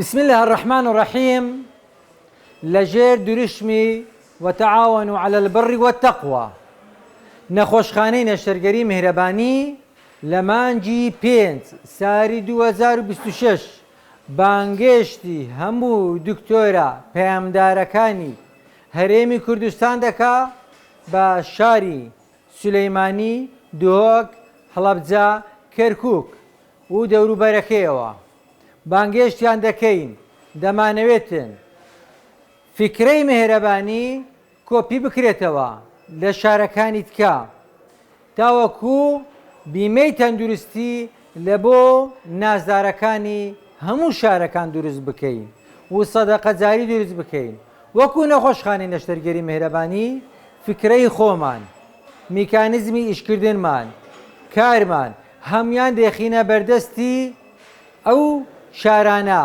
بسم اللە الرحمن الرحیم لە ژێر دروشمی، وتعاونوا علی البر والتقوی، نەخۆشخانەی نەشتەرگەری میهرەبانی لە مانگی پێنج ساری دوو هەزار و بیست و شەش بانگێشتی هەموو دکتۆرە پەیامدارەکانی هەرێمی کوردستان دەکا بە شاری سولەیمانی، دهۆک، هەڵەبجە، کەرکوک و دەوروبەرەکەیەوە. بانگێشتیان دەکەین دەمانەوێتن فیکرەی مێهرەبانی کۆپی بکرێتەوە لە شارەکانی تکە تاوەکو بیمەی تەندروستی لە بۆ نازدارەکانی هەموو شارەکان دروست بکەین و سەدەقە جاری دروست بکەین وەکو نەخۆشخانەی نەشتەرگەری مێهرەبانی فیکرەی خۆمان میکانیزمی ئیشکردنمان کارمان هەموان دەیخینە بەردەستی ئەو شارانە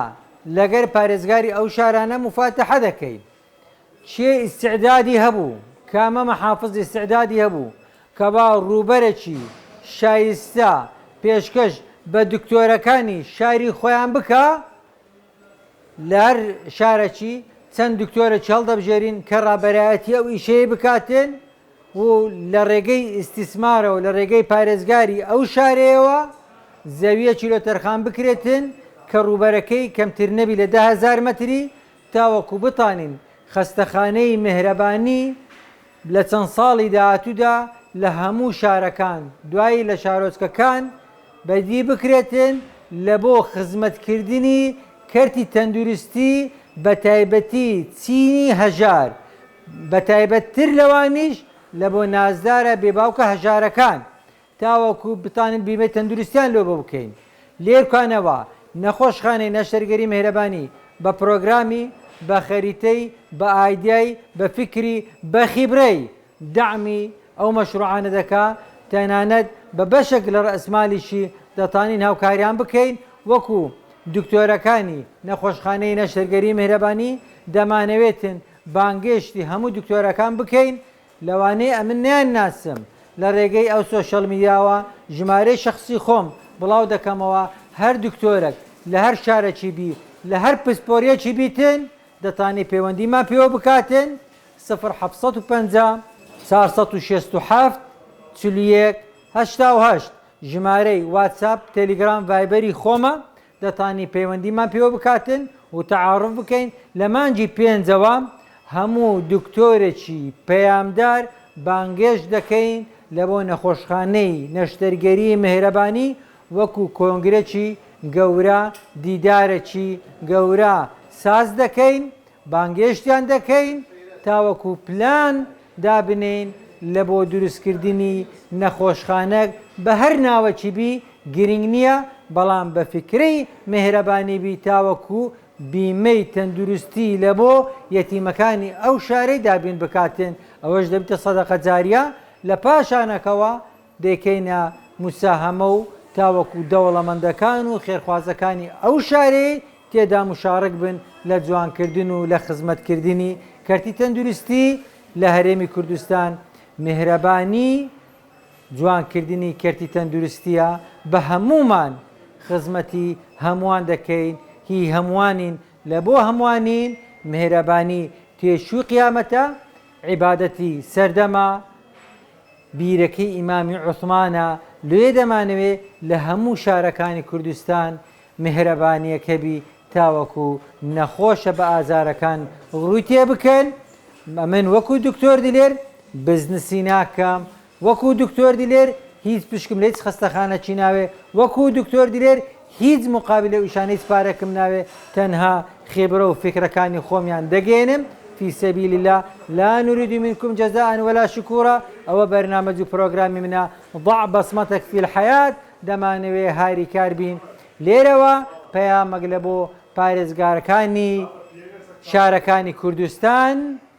لەگەر پارێزگاری ئەو شارانە مفاتەحە دەکەین کێ ئیستعدادی هەبوو کامە محافظ ئیستعدادی هەبوو کە با ڕووبەرەکی شایستە پێشکەش بە دکتۆرەکانی شاری خۆیان بکا، لەهەر شارەکی چەند دکتۆرەکی هەڵدەبژێرین کە ڕابەرایەتی ئەو ئیشەی بکاتێن و لە ڕێگەی ئیستیسمارەوە لە ڕێگەی پارێزگاری ئەو شارەیەوە زەویەکی لۆ تەرخان بکرێتێن کە ڕووبەرەکەی کەمتر نەبی لە دە هەزار مەتری تاوەکو بتانین خەستەخانەی مێهرەبانی لە چەند ساڵی داهاتوودا لە هەموو شارەکان دوایی لە شارۆچکەکان بەدی بکرێتن لە بۆ خزمەتکردنی کەرتی تەندروستی بە تایبەتی چینی هەژار بە تایبەتتر لەوانیش لە بۆ نازدارە بێباوکە هەژارەکان تاوەکو بتوانین بیمەی تەندروستییان لۆ بکەین. لێکانەوە، نەخۆشخانەی نەشتەرگەری مێهرەبانی بە پرۆگرامی، بە خەریتەی، بە ئایدیای، بە فیکری، بە خیبرەی، دەعمی ئەو مەشرووعانە دەکا، تەنانەت بە بەشێک لە رەئسمالیشی دەتانین هاوکاریان بکەین، وەکو دکتۆرەکانی نەخۆشخانەی نەشتەرگەری مێهرەبانی، دەمانەوێتن بانگێشتی هەموو دکتۆرەکان بکەین، لەوانەیە ئەمن نەیان ناسم لە رێگەی ئەو سۆشیال میدیاوە ژمارەی شەخسی خۆم بڵاو دەکەمەوە هەر دکتۆرەک لە هەر شارەکی بی لە هەر پسپۆریەکی بیتن دەتانی پەیوەندیمان پێوە بکاتن سفر حەفت سەد و پەنجا چوار سەد و شەست و حەفت چل و یەک هەشتا و هەشت ژمارەی واتساپ تێلیگرام ڤایبەری خۆمە دەتانی پەیوەندیمان پێوە بکاتن و تەعاروف بکەین، لە مانگی پێنجەوە هەموو دکتۆرێکی پەیامدار بانگێشت دەکەین لە بۆ نەخۆشخانەی نەشتەرگەری مێهرەبانی وەکو کۆنگرەکی گەورە دیدارەکی گەورە ساز دەکەین بانگێشتیان دەکەین تاوەکو پلان دابنێین لە بۆ دروست کردنی نەخۆشخانەک بە هەر ناوەکی بی گرینگ نیە بەڵام بە فکرەی مێهرەبانی بی تاوەکو بیمەی تەندروستی لە بۆ یەتیمەکانی ئەو شارەی دابین بکاتن ئەوەش دەبیتە سەدەقە جاریە لە پاشانەکەوە دەیکەینە موساهەمە و تاوەکو دەوڵەمەندەکان و خێرخوازەکانی ئەو شارەی تێدا موشاڕک بن لە جوانکردن و لە خزمەتکردنی کەرتی تەندروستی لە هەرێمی کوردستان میهرەبانی جوانکردنی کەرتی تەندروستیە بە هەموومان خزمەتی هەمووان دەکەین هی هەمووانین لە بۆ هەمووانین میهرەبانی تێچووی قیامەتە عیبادەتی سەردەمە بیرەکەی ئیمامی عوسمانە، لۆیە دەمانەوێ لە هەموو شارەکانی کوردستان میهرەبانیەک هەبی تاوەکو نەخۆشە بە ئازارەکان ڕووی تێ بکەن، ئەمن وەکو دکتۆر دلێر بزنسی ناکەم، وەکو دکتۆر دلێر هیچ پشکم لە هیچ خەستەخانەکی ناوێ، وەکو دکتۆر دلێر هیچ مقابلە و ئیشان هیچ پارەکم ناوێ تەنها خیبرە و فیکرەکانی خۆمیان دەگەیەنم فی سبیل اللە لا نرید منکم جزاء ولا شکورا ئەوە بەرنامەج و پرۆگرامی منە ضع بصمتک فی الحیات دەمانەوێ هاریکار بین لێرەوە پەیامەک لە بۆ پارێزگارەکانی شارەکانی کوردستان.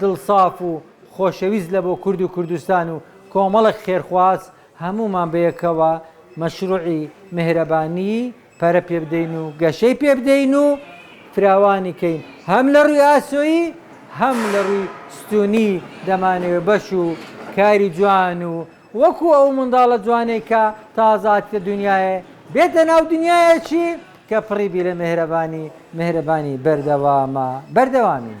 دڵساف و خۆشەویست لە بۆ کورد و کوردستان و کۆمەڵێک خێرخواز هەموومان بەیەکەوە مەشروعی میهرەبانیی پەرە پێ بدەین و گەشەی پێ بدەین و فراوانی کەین هەم لە رووی ئاسۆیی هەم لە رووی ستوونی دەمانەوێ بەش و کاری جوان و وەکو ئەو منداڵە جوانەی کە تازە هاتیتە دونیایێ بێتە ناو دونیایەکی کە پڕی بی لە میهرەبانی میهرەبانی بەردەوامە بەردەوامین.